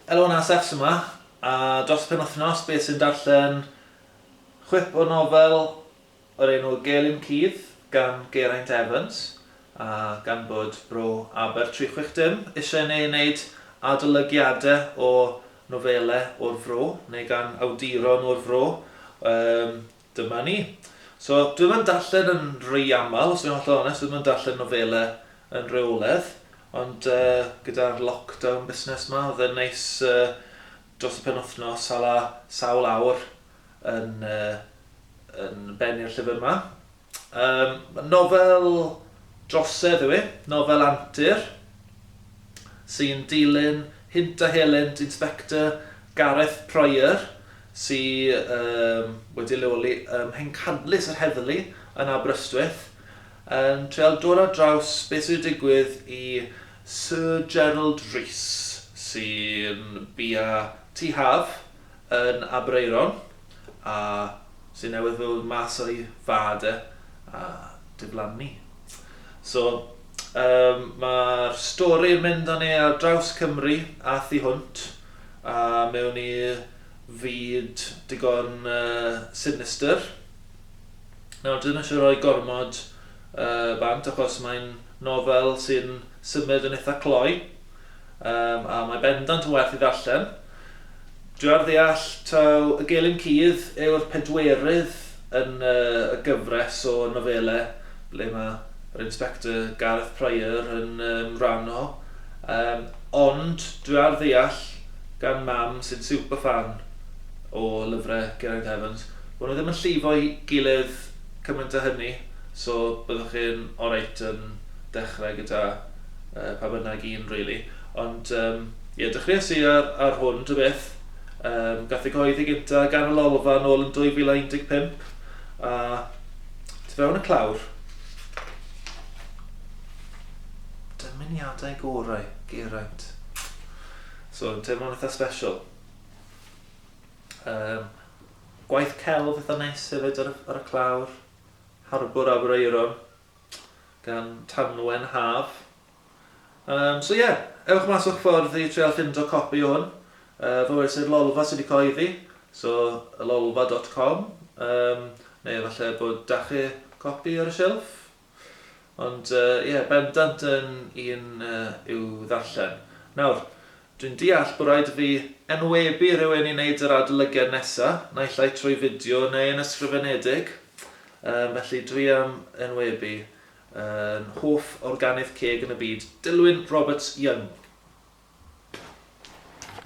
Elon a Seth sy 'ma, a dros y penwythnos bydd sy'n darllen chwip o nofel o'r enw Gelyn Cudd gan Geraint Evans, a gan bod Bro Aber 360 eisiau i ni wneud adolygiadau o nofelau o'r Fro, neu gan awduron o'r Fro, dyma ni. So, dwi'm yn darllen yn rhy aml, os dwi'n hollol onest, dwi'm yn darllen nofelau yn rheoledd, ond uh, gyda'r lockdown busnes ma, oedd yn neis uh, dros y penwthnos, hala sawl awr yn, uh, yn bennu'r llyfr yma. Um, nofel drosedd yw e, nofel antur, sy'n dilyn Hynt a Helent Inspector Gareth Pryor, sy wedi leoli ym Mhencadlys yr Heddlu yn Aberystwyth, yn treial dod ar draws beth sydd wedi digwydd i Sir Gerald Rees, sy'n bia tŷ haf yn Aberaeron, a sydd newydd ddod mas o'i fad e, a diflannu. So, mae'r stori yn mynd â ni ar draws Cymru a thu hwnt, A mewn i fyd digon sinistr. Nawr, dwi ddim eisiau rhoi gormod bant, achos mae'n nofel sy'n symud yn eitha cloi, a mae bendant yn werth ei ddarllen. Dwi ar ddeall taw Y Gelyn Cudd yw'r pedwerydd yn y gyfres o nofelau ble mae yr Inspector Gareth Prior yn um, rhan o. Um, ond dwi ar ddeall gan mam sy'n super fan o lyfrau Geraint Evans, bod nhw ddim yn llifo i gilydd cymaint â hynny, so byddwch chi'n oreit yn dechrau gyda uh, pa bynnag un, really. Ond, um, ie, yeah, dechreuais i ar, ar hwn, dy beth, Ym gath ei gyhoeddi gyntaf gan y Lolfa yn ôl yn 2015 a tu fewn y clawr, dymuniadau gorau Geraint. So yn teimlo'n eitha special. Ym gwaith celf eitha neis hefyd ar y, ar y clawr, Harbwr Aberaeron gan Tanwen Haf. Yym, so ie, ewch mas o'ch ffordd i treial ffindo copi o hwn. Yy, fo wnes i'r Lolfa sydd wedi cyhoeddi, so ylolfa dot com, yym, neu efallai bod 'da chi copi ar y shelf. Ond yy, ie, bendant yn un yy, i'w ddarllen. Nawr, dwi'n deall bod rhaid i fi enwebu rhywun i wneud yr adolygiad nesa, naill ai trwy fideo neu yn ysgrifenedig, yym, felly dwi am enwebu Yn hoff organydd ceg yn y byd, Dilwyn Roberts Young.